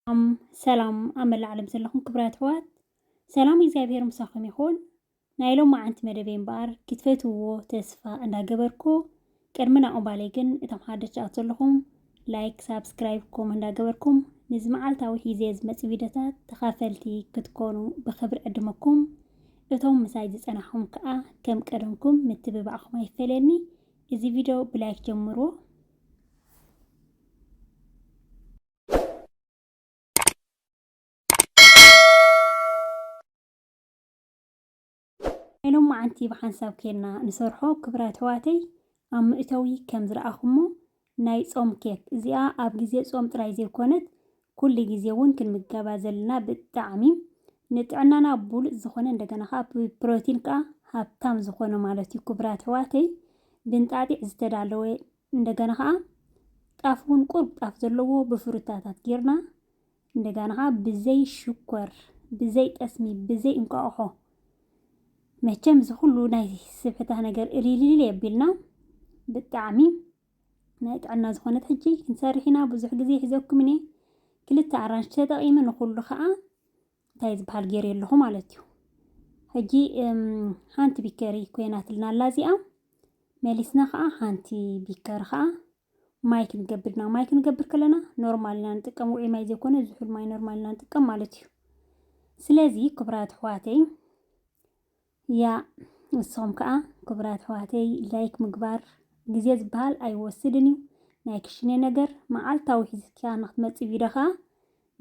ሰላም ሰላም ኣብ መላእ ዓለም ዘለኹም ክብራት ኣሕዋት ሰላም እግዚኣብሔር ምሳኹም ይኹን። ናይ ሎም መዓንቲ መደበይ እምበኣር ክትፈትውዎ ተስፋ እንዳገበርኩ ቅድሚ ናብኡ ባለይ ግን እቶም ሓደቻ ኣት ዘለኹም ላይክ ሳብስክራይብ ኮም እንዳገበርኩም ንዚ መዓልታዊ ሒዜ ዝመፅ ቪዲዮታት ተኻፈልቲ ክትኮኑ ብክብሪ ዕድመኩም እቶም ምሳይ ዝፀናሕኹም ከዓ ከም ቀደምኩም ምትብባዕኹም ኣይፈለኒ እዚ ቪድዮ ብላይክ ጀምርዎ ናይ ሎማዓንቲ ብሓንሳብ ኬድና ንሰርሖ ክብራት ኣሕዋተይ ኣብ መእተዊ ከም ዝረኣኹሞ ናይ ጾም ኬክ እዚኣ ኣብ ግዜ ጾም ጥራይ ዘይኮነት ኩሉ ግዜ እውን ክንምገባ ዘለና ብጣዕሚ ንጥዕናና ብሉጽ ዝኾነ እንደገና ከኣ ብፕሮቲን ከኣ ሃብታም ዝኾነ ማለት እዩ ክብራት ኣሕዋተይ ብንጣጢዕ ዝተዳለወ እንደገና ከኣ ጣፍ ውን ቁሩብ ጣፍ ዘለዎ ብፍሩታታት ጌርና እንደገና ከኣ ብዘይ ሽኮር ብዘይ ጠስሚ ብዘይ እንቋቑሖ መቸም እዚ ኩሉ ናይ ስብሕታ ነገር እልልልል የቢልና ብጣዕሚ ናይ ጥዕና ዝኾነት ሕጂ ክንሰርሕ ኢና ብዙሕ ግዜ ሒዘኩምን እየ ክልተ ኣራንሽ ተጠቒመ ንኹሉ ከኣ እንታይ ዝበሃል ገይረ ኣለኹ ማለት እዩ ሕጂ ሓንቲ ቢከሪ ኮይናትልና ኣላ እዚኣ መሊስና ከዓ ሓንቲ ቢከሪ ከዓ ማይ ክንገብር ኢና ማይ ክንገብር ከለና ኖርማል ኢና ንጥቀም ውዑይ ማይ ዘይኮነ ዝሑል ማይ ኖርማል ኢና ንጥቀም ማለት እዩ ስለዚ ክብራት ኣሕዋተይ ያእ ንስኹም ከኣ ክቡራት ኣሕዋተይ ላይክ ምግባር ግዜ ዝበሃል ኣይወስድን እዩ ናይ ክሽነ ነገር መዓልታዊ ሒዝካ ንክትመጺ ቪድዮ ከኣ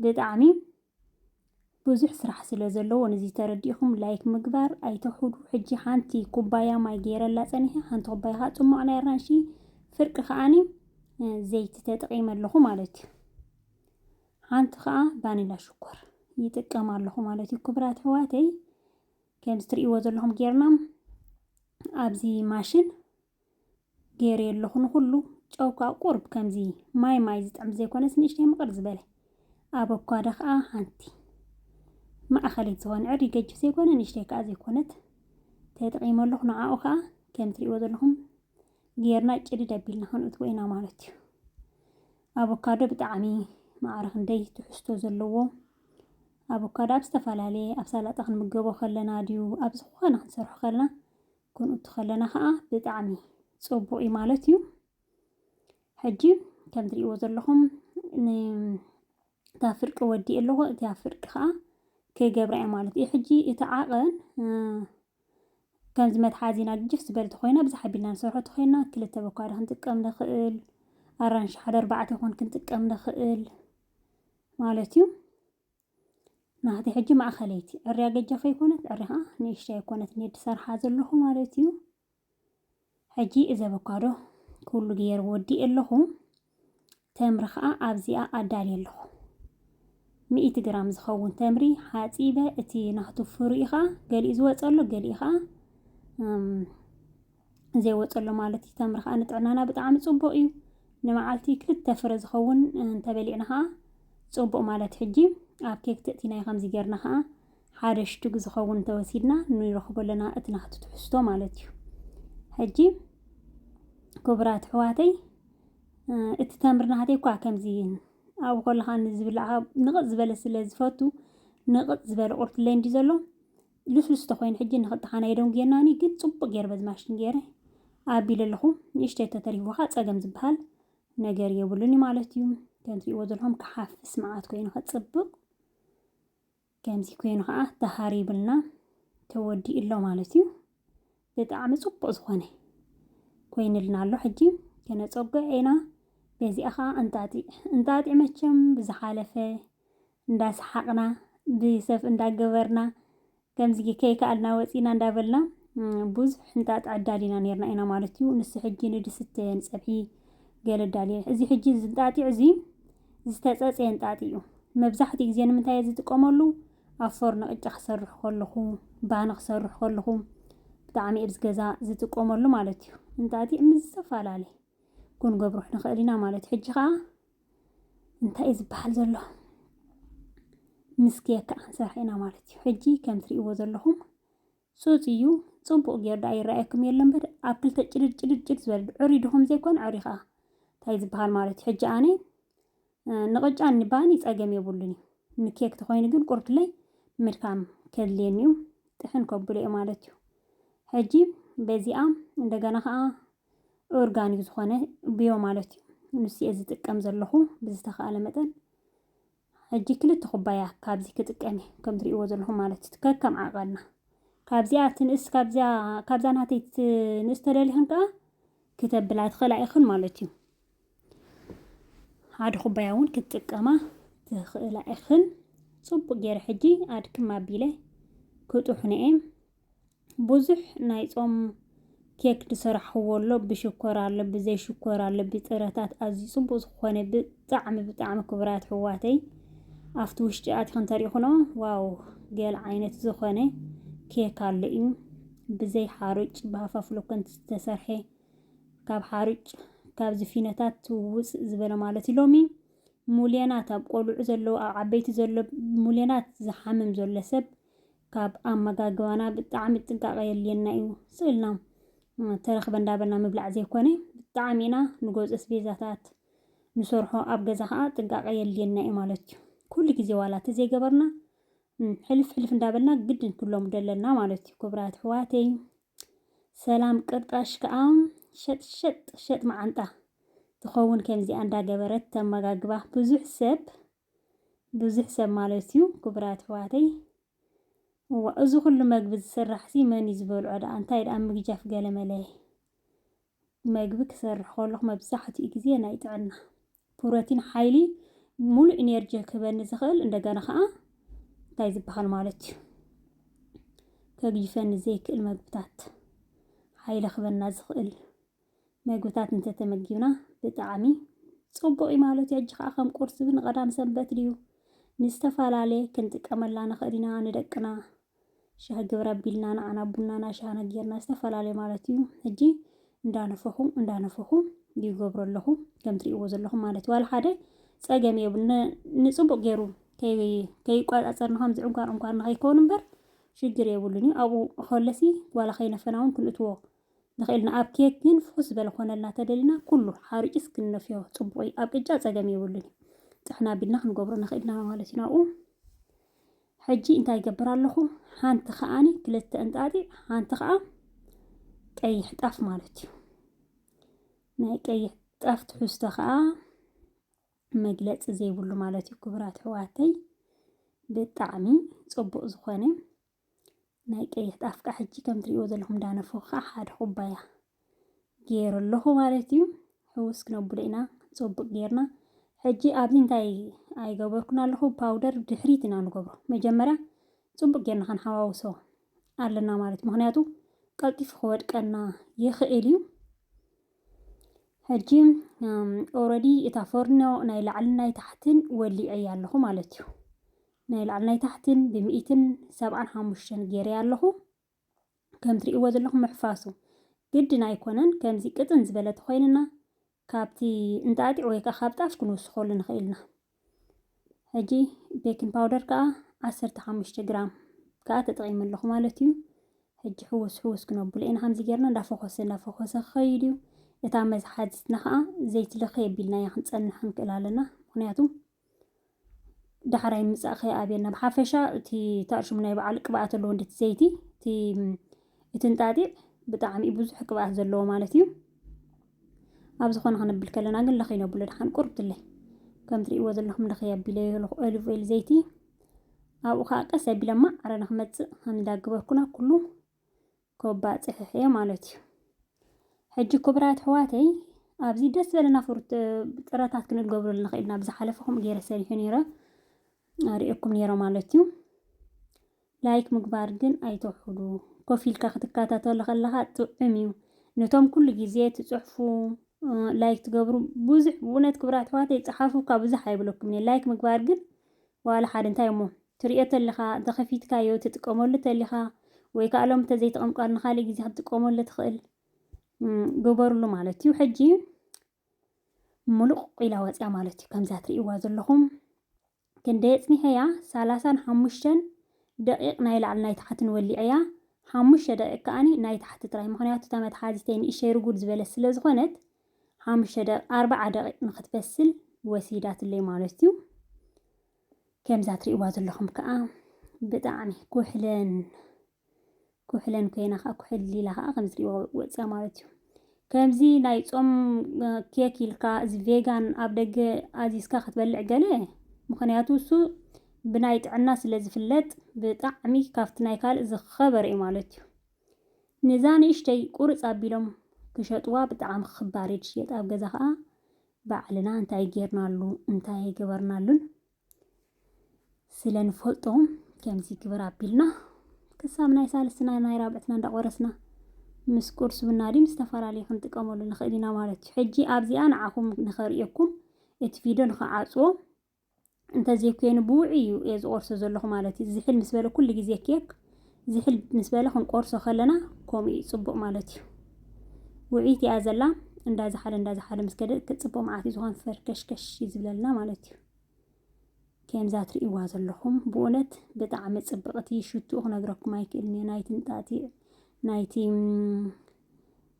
ብጣዕሚ ብዙሕ ስራሕ ስለ ዘለዎ ንዚ ተረዲእኹም ላይክ ምግባር ኣይተውሕዱ ሕጂ ሓንቲ ኩባያ ማይ ገይረላ ጸኒሐ ሓንቲ ኩባያ ከኣ ጽሟቕ ናይ ኣራንሺ ፍርቂ ከኣኒ ዘይቲ ተጠቒመ ኣለኹ ማለት እዩ ሓንቲ ከኣ ቫኒላ ሽኮር ይጥቀም ኣለኹ ማለት እዩ ክቡራት ኣሕዋተይ ከምዚ ትርእይዎ ዘለኹም ጌርና ኣብዚ ማሽን ገይረዮ ኣለኹ ንኹሉ ጨው ከዓ ቁርብ ከምዚ ማይ ማይ ዝጥዕም ዘይኮነስ ንእሽተይ ምቕር ዝበለ ኣበኳዶ ከዓ ሓንቲ ማእኸለይት ዝኾነ ዕሪ ገጅፍ ዘይኮነ ንእሽተይ ከዓ ዘይኮነት ተጠቒመ ኣለኹ ንዓኡ ከዓ ከም ትሪእዎ ዘለኹም ጌርና ጭድድ ኣቢልና ክንእትዎ ኢና ማለት እዩ ኣቮካዶ ብጣዕሚ ማዕረ ክንደይ ትሕዝቶ ዘለዎ ኣቮካዶ ኣብ ዝተፈላለየ ኣብ ሳላጣ ክንምገቦ ከለና ድዩ ኣብ ዝኾነ ክንሰርሖ ከለና ክንእቱ ከለና ከዓ ብጣዕሚ ፅቡቅ እዩ ማለት እዩ ሕጂ ከም ትሪእዎ ዘለኹም እታ ፍርቂ ወዲእ ኣለኹ እቲያ ፍርቂ ከዓ ክገብራ እየ ማለት እዩ ሕጂ እቲ ዓቐን ከምዚ መትሓዚና ግጅፍ ዝበለት ኮይና ብዛሕ ኣቢልና ንሰርሖ ተኮይና ክልተ በኳዶ ክንጥቀም ንኽእል ኣራንሺ ሓደ ኣርባዕተ ኮን ክንጥቀም ንኽእል ማለት እዩ። ናህቲ ሕጂ ማእኸለይቲ ዕርያ ገጃ ከይኮነት ዕርያ ከዓ ንእሽተይ ኣይኮነት ኔድ ሰርሓ ዘለኹ ማለት እዩ። ሕጂ እዚ ኣቮካዶ ኩሉ ገይር ወዲእ ኣለኹ። ተምሪ ከዓ ኣብዚኣ ኣዳልየ ኣለኹ። ሚእቲ ግራም ዝኸውን ተምሪ ሓፂበ እቲ ናህቱ ፍሪኡ ከዓ ገሊኡ ዝወፀ ኣሎ ገሊኡ ከዓ ዘይወፀሉ ማለት እዩ። ተምሪ ከዓ ንጥዕናና ብጣዕሚ ፅቡቅ እዩ። ንመዓልቲ ክልተ ፍረ ዝኸውን እንተበሊዕና ከዓ ፅቡቅ ማለት ሕጂ ኣብ ኬክ ትእቲናዮ ከምዚ ጌርና ከዓ ሓደ ሽቱግ ዝኸውን እንተወሲድና ንረኽቦ ኣለና እቲ ናቱ ትሕዝቶ ማለት እዩ። ሕጂ ክቡራት ኣሕዋተይ እቲ ተምሪ ናተይ እኳ ከምዚ ኣብ ከለካ ንዝብላዕ ንቕፅ ዝበለ ስለ ዝፈቱ ንቕፅ ዝበለ ቁርትለይ እንዲ ዘሎ ልስሉስ ተኮይኑ ሕጂ ንክልተካና የደንጉየናኒ ግን ጽቡቅ ገይረ በዚ ማሽን ገይረ ኣቢለ ኣለኩ ንእሽተይ ተተሪፍዎ ከኣ ጸገም ዝበሃል ነገር የብሉን እዩ ማለት እዩ ከም ትሪእዎ ዘለኹም ክሓፍስ መዓት ኮይኑ ከጽብቅ ከምዚ ኮይኑ ከኣ ተሃሪብልና ተወዲኡ ኣሎ ማለት እዩ ብጣዕሚ ጽቡቅ ዝኾነ ኮይንልና ኣሎ ሕጂ ከነጸጎ ኢና በዚኣ ከዓ እንጣጢዕ እንጣጢዕ መቸም ብዝሓለፈ እንዳሰሓቕና ብሰፍ እንዳገበርና ከምዚ ከይከኣልና ወጺእና እንዳበልና ብዙሕ ሕንጣጥ ዕዳል ኢና ነርና ኢና ማለት እዩ። ንሱ ሕጂ ንድስቲ ንጸብሒ ገለ ዳልየ እዚ ሕጂ እዚ እንጣጢዕ እዚ ዝተጸጸየ እንጣጢዕ እዩ። መብዛሕትኡ ግዜ ንምንታይ እየ ዝጥቀመሉ ኣብ ፎርኖ ቅጫ ክሰርሕ ከለኹ ባኒ ክሰርሕ ከለኹ ብጣዕሚ እብዚ ገዛ ዝጥቀመሉ ማለት እዩ። እንጣጢዕ ምስ ዝተፈላለየ ክንገብሮ ንኽእል ኢና ማለት እዩ። ሕጂ ከዓ እንታይ እዩ ዝበሃል ዘሎ ምስኪ የካ ክንሰርሐ ኢና ማለት እዩ። ሕጂ ከም ትሪእዎ ዘለኹም ፁፅ እዩ ፅቡቕ ጌር ዳኣ ይረኣየኩም የለ እምበር ኣብ ክልተ ጭድድ ጭድድ ጭድ ዝበለ ዕሪ ድኹም ዘይኮነ ዕሪ ከዓ እንታይ ዝበሃል ማለት እዩ። ሕጂ ኣነ ንቕጫን ንባኒ ፀገም የብሉን እዩ ንኬክ ተኾይኑ ግን ቁርብትለይ ምድካም ከድልየኒ እዩ ጥሕን ከብሎ እዩ ማለት እዩ። ሕጂ በዚኣ እንደገና ከዓ ኦርጋኒክ ዝኾነ ብዮ ማለት እዩ ንሱ እየ ዝጥቀም ዘለኹ ብዝተኸኣለ መጠን ሕጂ ክልተ ኩባያ ካብዚ ክጥቀም እየ ከም ትሪእዎ ዘለኹም ማለት እዩ ከከም ዓቐና ካብዚኣ ትንእስ ካብዚኣ ካብዛ ናተይ ትንእስ ተደሊኽን ከዓ ክተብላ ትኽእላ ኢኽን ማለት እዩ ሓደ ኩባያ እውን ክትጥቀማ ትኽእላ ኢኽን ፅቡቅ ገይረ ሕጂ ኣድክም ኣቢለ ክጡሑነ እየ ብዙሕ ናይ ጾም ኬክ ዝሰራሕክዎ ኣሎ ብሽኮር ኣሎ ብዘይ ሽኮር ኣሎ ብጥረታት ኣዝዩ ጽቡቅ ዝኾነ ብጣዕሚ ብጣዕሚ ክቡራት ሕዋተይ ኣብቲ ውሽጢ ኣትኽን ተሪኽኖ ዋው ገል ዓይነት ዝኾነ ኬክ ኣሎ እዩ ብዘይ ሓሩጭ ብሃፋፍሎኮን ዝተሰርሐ ካብ ሓሩጭ ካብዚ ፊኖታት ውፅ ዝበለ ማለት እዩ ሎሚ ሙልዮናት ኣብ ቆልዑ ዘለዎ ኣብ ዓበይቲ ዘሎ ሙልዮናት ዝሓምም ዘሎ ሰብ ካብ ኣመጋግባና ብጣዕሚ ጥንቃቐ የድልየና እዩ። ስቕ ኢልና ተረኽበ እንዳበልና ምብላዕ ዘይኮነ ብጣዕሚ ኢና ንገዝኦ ኣስቤዛታት ንሰርሖ፣ ኣብ ገዛ ከዓ ጥንቃቐ የድልየና እዩ ማለት እዩ። ኩሉ ግዜ ዋላ ተዘይገበርና ሕልፍ ሕልፍ እንዳበልና ግድን ክለምዶ ኣለና ማለት እዩ። ክቡራት ኣሕዋተይ ሰላም ቅርጣሽ ከዓ ሸጥሸጥ ሸጥ መዓንጣ ትኸውን ከምዚኣ እንዳገበረት ተመጋግባ ብዙሕ ሰብ ብዙሕ ሰብ ማለት እዩ ክቡራት ኣሕዋተይ እዋ እዚ ኩሉ መግቢ ዝስራሕ ሲ መን እዩ ዝበልዖ ደኣ እንታይ ደኣ ምግጃፍ ገለመለ መግቢ ክሰርሕ ከለኹ መብዛሕትኡ ግዜ ናይ ጥዕና ፕሮቲን ሓይሊ ሙሉእ ኢነርጂ ክህበኒ ዝኽእል እንደገና ከዓ እንታይ ዝበሃል ማለት እዩ ከግጅፈኒ ዘይክእል መግብታት ሓይሊ ክህበና ዝኽእል መግብታት እንተተመጊብና ብጣዕሚ ጹቡቅ እዩ ማለት እዩ ሕጂ ከኣ ከም ቁርሲ ን ቀዳም ሰንበት ድዩ ንዝተፋላልየ ክንጥቀመላ ንክእል ኢና ንደቅና ሻሂ ግብር ኣቢልና ንዓና ቡናና ሻህና ጌርና ዝተፋላልየ ማለት እዩ ሕጂ እንዳነፈኹ እንዳነፈኹ ይገብሮ ኣለኹ ከም ትርእይዎ ዘለኹም ማለት ዋላ ሓደ ጸገም የብሉ ንጽቡቅ ጌሩ ከይቋጻጸርና ከም ዝዕንኳር ዕንኳር ንኸይከውን እምበር ሽግር የብሉን እዩ ኣብኡ ከለሲ ዋላ ከይነፈና እውን ክንእትዎ ንክእል ኢና ኣብ ኬክ ግን ፍኩስ ዝበለ ክኮነልና ተደሊና ኩሉ ሓሪጭስ ክንነፍዮ ጽቡቅ እዩ ኣብ ቅጫ ጸገም የብሉን እዩ ጥሕና ኣቢልና ክንገብሮ ንክእል ኢና ማለት ኢና ኣብኡ ሕጂ እንታይ ይገብር ኣለኹ ሓንቲ ከዓኒ ክልተ እንጣጢዕ ሓንቲ ከዓ ቀይሕ ጣፍ ማለት እዩ ናይ ቀይሕ ጣፍ ትሕዝቶ ከዓ መግለፂ ዘይብሉ ማለት እዩ ክቡራት ሕዋተይ ብጣዕሚ ፅቡቅ ዝኾነ ናይ ቀይሕ ጣፍ ከዓ ሕጂ ከም ትሪእዎ ዘለኹም ዳነፎ ከዓ ሓደ ኩባያ ገይሩ ኣለኹ ማለት እዩ። ሕውስ ክነብሎ ኢና ፅቡቅ ጌርና። ሕጂ ኣብዚ እንታይ ኣይገበርኩን ኣለኹ ፓውደር ድሕሪት ኢና ንገብሮ። መጀመርያ ፅቡቅ ጌርና ክንሓዋውሶ ኣለና ማለት እዩ። ምክንያቱ ቀልጢፉ ክወድቀና ይኽእል እዩ። ሕጂ ኦረዲ እታ ፎርኖ ናይ ላዕልን ናይ ታሕትን ወሊዐያ ኣለኹ ማለት እዩ። ናይ ላዕሊ ናይ ታሕቲን ብሚኢትን ሰብዓን ሓሙሽተን ጌረያ ኣለኹ። ከም ትርእይዎ ዘለኹም ምሕፋሱ ግድን ኣይኮነን። ከምዚ ቅጥን ዝበለ ተኾይንና ካብቲ እንጣጢዕ ወይ ከዓ ካብ ጣፍ ክንውስኸሉ ንኽእል ኢና። ሕጂ ቤኪን ፓውደር ከዓ ዓሰርተ ሓሙሽተ ግራም ከዓ ተጠቒመ ኣለኹ ማለት እዩ። ሕጂ ሕውስ ሕውስ ክነብሎ ኢና ከምዚ ጌርና እንዳፈኾሰ እንዳፈኾሰ ክኸይድ እዩ። እታ መዝሓዚትና ከዓ ዘይትለኸ የቢልናያ ክንፀንሕ ክንክእል ኣለና ምክንያቱ ዳሕራይ ምምጻእ ከይ ኣብየና ብሓፈሻ እቲ ታርሽሙ ናይ በዓል ቅብኣት ኣለዎ እንድቲ ዘይቲ እቲ እቲ እንጣጢዕ ብጣዕሚ ብዙሕ ቅብኣት ዘለዎ ማለት እዩ ኣብ ዝኾነ ክንብል ከለና ግን ለኸይ ነብሎ ድሓን ቁርብትለይ ከም ትርእይዎ ዘለኹም ለኸይ ኣቢለ ኣለኹ ኦሊቭ ኦይል ዘይቲ ኣብኡ ከዓ ቀስ ኣቢለ ማዕረ ንክመፅእ ከም እንዳገበርኩና ኩሉ ኮባ ጽሕሕ እየ ማለት እዩ። ሕጂ ክቡራት ኣሕዋተይ ኣብዚ ደስ ዘለና ፍሩት ጥረታት ክንገብረሉ ንኽእል ኢና። ብዝሓለፈ ከምኡ ገይረ ሰሪሑ ነይረ ኣርእየኩም ነይረ ማለት እዩ። ላይክ ምግባር ግን ኣይተውሕዱ። ኮፍ ኢልካ ክትከታተሎ ከለኻ ጥዑም እዩ። ነቶም ኩሉ ግዜ ትጽሕፉ ላይክ ትገብሩ ብዙሕ ብእውነት ክቡራት ኣሕዋተይ ጸሓፉካ ብዙሕ ኣይብለኩም እየ። ላይክ ምግባር ግን ዋላ ሓደ እንታይ እሞ ትርእዮ ተለኻ እንተኸፊትካዮ ትጥቀመሉ ተሊኻ ወይ ከኣ ሎም ተዘይተቐምቃሉ ንኻልእ ግዜ ክትጥቀመሉ ትኽእል ግበርሉ ማለት እዩ ሕጂ ምሉቕ ኢላ ወፅያ ማለት እዩ ከምዛ ትርእይዋ ዘለኹም ክንደይ ኣፅኒሐያ ሰላሳን ሓሙሽተን ደቂቕ ናይ ላዕሊ ናይ ታሕትን ወሊዐያ ሓሙሽተ ደቂቕ ከኣኒ ናይ ታሕቲ ጥራይ ምክንያቱ እታ መትሓዚተይ ንእሸይ ርጉድ ዝበለት ስለ ዝኾነት ሓሙሽተ ደቂቕ ኣርባዓ ደቂቕ ንክትበስል ወሲዳትለይ ማለት እዩ ከምዛ ትሪእዋ ዘለኹም ከዓ ብጣዕሚ ኩሕለን ኩሕለን ኮይና ከዓ ኩሕል ኢላ ከዓ ከም ዝሪእዎ ወፅያ ማለት እዩ ከምዚ ናይ ፆም ኬክ ኢልካ እዚ ቬጋን ኣብ ደገ ኣዚዝካ ክትበልዕ ገለ ምክንያቱ እሱ ብናይ ጥዕና ስለ ዝፍለጥ ብጣዕሚ ካብቲ ናይ ካልእ ዝኸበረ እዩ ማለት እዩ ንዛ ንእሽተይ ቁርፅ ኣቢሎም ክሸጥዋ ብጣዕሚ ክባር እዩ ዝሽየጥ ኣብ ገዛ ከዓ ባዕልና እንታይ ጌርናሉ እንታይ ኣይገበርናሉን ስለ ንፈልጦ ከምዚ ግበር ኣቢልና ክሳብ ናይ ሳልስትና ናይ ራብዕትና እንዳቆረስና ምስ ቁርስ ብናዲም ዝተፈላለዩ ክንጥቀመሉ ንኽእል ኢና ማለት እዩ። ሕጂ ኣብዚኣ ንዓኹም ንኸርእየኩም እቲ ቪድዮ ንኽዓጽዎ እንተዘይኮይኑ ብውዑይ እዩ እየ ዝቆርሶ ዘለኹ ማለት እዩ። ዝሕል ምስ በለ ኩሉ ግዜ ኬክ ዝሕል ምስ በለ ክንቆርሶ ከለና ከምኡ እዩ ፅቡቕ ማለት እዩ። ውዕይቲ እያ ዘላ እንዳዝሓለ እንዳዝሓለ ምስ ከደ ክፅቡቕ መዓት እዩ ዝኾን ፈርከሽከሽ እዩ ዝብለልና ማለት እዩ። ከምዛ ትርእይዋ ዘለኹም ብእውነት ብጣዕሚ ፅብቕቲ ሽትኡ ክነግረኩም ኣይክእልን እየ ናይቲ ንጣቲ ናይቲ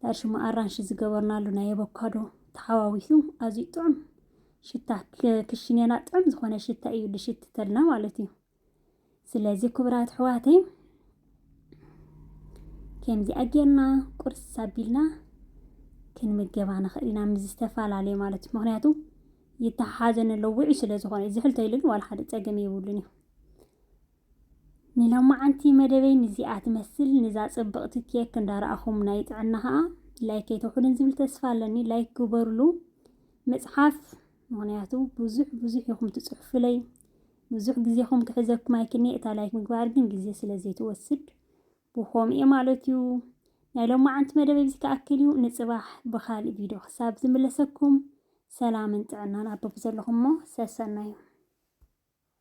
ናይ ሽማ ኣራንሺ ዝገበርናሉ ናይ ኣቮካዶ ተሓዋዊሱ ኣዝዩ ጥዑም ሽታ ክሽኔና ጥዑም ዝኾነ ሽታ እዩ ዝሽትተልና ማለት እዩ። ስለዚ ክቡራት ኣሕዋተይ ከምዚ ኣጌርና ቁርሲ ሳቢልና ክንምገባ ንኽእል ኢና ምስ ዝተፈላለየ ማለት እዩ። ምክንያቱ ይተሓሓዘ ነሎ ውዑይ ስለ ዝኾነ እዩ። ዝሕልቶ ኢሉ ግን ዋላ ሓደ ፀገም የብሉን እዩ። ንሎማዓንቲ መደበይ ንዚኣ ትመስል ንዛ ጽብቕቲ ኬክ እንዳረኣኹም ናይ ጥዕና ከኣ ላይክ ከይተውሕዱን ዝብል ተስፋ ኣለኒ ላይክ ግበሩሉ መጽሓፍ ምክንያቱ ብዙሕ ብዙሕ ኢኹም ትጽሑፍለይ ብዙሕ ግዜኹም ክሕዘኩም ኣይክኔ እታ ላይክ ምግባር ግን ግዜ ስለ ዘይትወስድ ብኾም እየ ማለት እዩ ናይ ሎማዓንቲ መደበይ ብዚ ክኣክል እዩ ንጽባሕ ብኻልእ ቪድዮ ክሳብ ዝምለሰኩም ሰላምን ጥዕናን ኣበብ ዘለኹሞ ሰሰናዩ